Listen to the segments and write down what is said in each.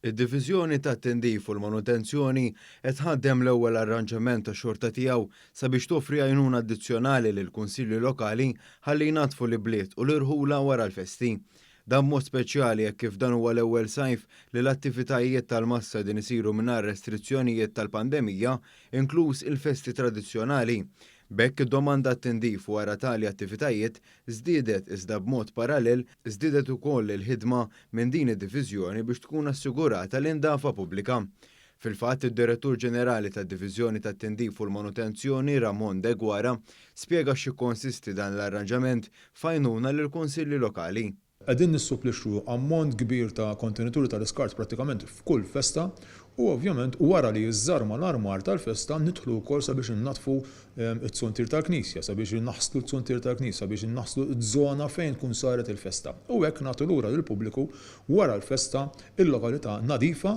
Id-Diviżjoni tat-Tindif u l-Manutenzjoni qed tħaddem l-ewwel arranġament tax-xorta tiegħu sabiex toffri għajnuna addizzjonali lill-Kunsilli Lokali ħalli jnaddfu l-ibliet u l-irħula wara l-festi. Dan b'mod speċjali hekk kif dan huwa l-ewwel sajf li l-attivitajiet tal-massa qegħdin isiru mingħajr restrizzjonijiet tal-pandemija, inkluż il-festi tradizzjonali. B'hekk id-domanda għat-tindif wara tali attivitajiet żdiedet iżda b'mod parallel żdiedet ukoll il-ħidma minn din id-diviżjoni biex tkun assigurata l-indafa pubblika. Fil-fatt, id-Direttur Ġenerali tad-Diviżjoni tat-Tindif u l-Manutenzjoni Ramon Deguara spjega x'jikkonsisti dan l-arranġament f'għajnuna lill-Kunsilli Lokali. Qegħdin nissupplixxu ammont kbir ta' kontenituri tal-iskart prattikament f'kull festa u ovvjament wara li jiżżarma l-armar tal-festa nidħlu wkoll sabiex innaddfu t-tsuntier tal-knisja, sabiex inaħslu t-tsuntier tal-knisja, sabiex inaħslu z-zona fejn tkun saret il-festa u hekk nagħtu lura lill-pubbliku wara l-festa il-lokalità nadifa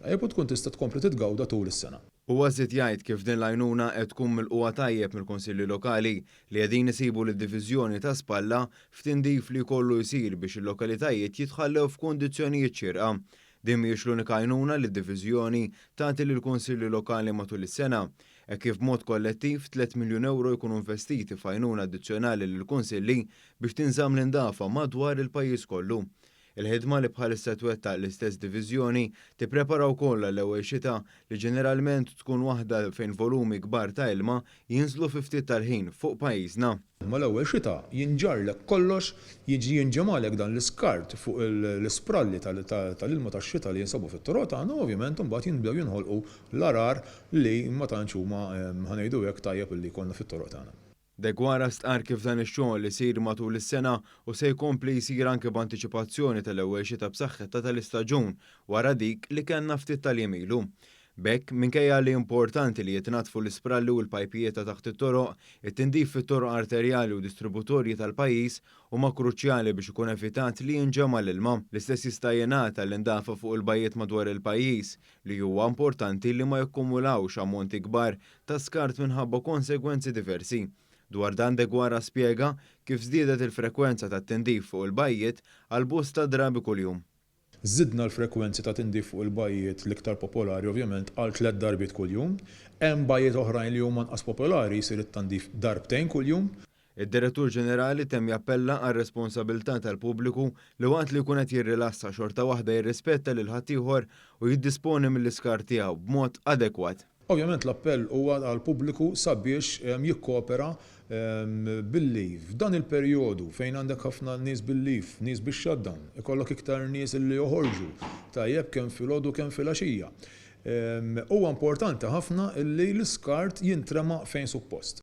tajjeb u tkun tista' tkompli titgawda tul is-sena. Huwa żied jgħid kif din l-għajnuna qed tkun milqugħa tajjeb mill-Kunsilli Lokali li qegħdin isibu lid-Diviżjoni ta' Spalla f'tindif li jkollu jsir biex il-lokalitajiet jitħallew f'kundizzjonijiet xierqa. Din mhijiex l-unika għajnuna li d-Diviżjoni tagħti lill-Kunsilli Lokali matul is-sena, hekk kif b'mod kollettiv tliet miljun ewro jkunu investiti f'għajnuna addizzjonali lill-Kunsilli biex tinżamm l-indafa madwar il-pajjiż kollu. Il-ħidma li bħalissa twettaq l-istess diviżjoni tipprepara wkoll għall-ewwel xita li ġeneralment tkun waħda fejn volumi kbar ta' ilma jinżlu fi ftit tal-ħin fuq pajjiżna. Mal-ewwel xita jinġarlek kollox, jiġi jinġemgħalek dan l-iskart fuq l-ispralli tal-ilma tax-xita li jinsabu fit-toroq tagħna u ovvjament imbagħad jinbdew jinħolqu l-għarar li ma tantx huma, ħa ngħidu hekk, tajjeb li jkollna fit-toroq tagħna. Deguara stqarr kif dan ix-xogħol isir matul is-sena u se jkompli jsir anke b'antiċipazzjoni tal-ewwel xita b'saħħitha tal-istaġun wara dik li kellna ftit tal-jiem ilu. B'hekk, minkejja li importanti li jitnaddfu l-ispralli u l-pajpijiet ta' taħt it-toroq, it-tindif fit-toroq arterjali u distributorji tal-pajjiż huma kruċjali biex ikun evitat li jinġema' l-ilma. L-istess jista' jingħad għall-indafa fuq il-bajjiet madwar il-pajjiż, li huwa importanti li ma jakkumulawx ammonti kbar ta' skart minħabba konsegwenzi diversi. Dwar dan Deguara spjega kif żdiedet il-frekwenza tat-tindif fuq il-bajjiet għal bosta drabi kuljum. Żidna l-frekwenzi ta' tindif fuq il-bajjiet l-iktar popolari ovvjament għal tliet darbiet kuljum. Hemm bajjiet oħrajn li huma nqas popolari jsir it-tandif darbtejn kuljum. Id-Direttur Ġenerali temm jappella għar-responsabilità tal-pubbliku li waqt li jkun qed jirrilassa xorta waħda jirrispetta lil ħaddieħor u jiddisponi mill-iskart tiegħu b'mod adekwat. Ovvjament l-appell huwa għall-pubbliku sabiex jikkoopera billi f'dan il-perjodu fejn għandek ħafna nies bil-leave, nies bix-shutdown, ikollok iktar nies li joħorġu tajjeb kemm filgħodu kemm filgħaxija. Huwa importanti ħafna li l-iskart jintrema fejn suppost.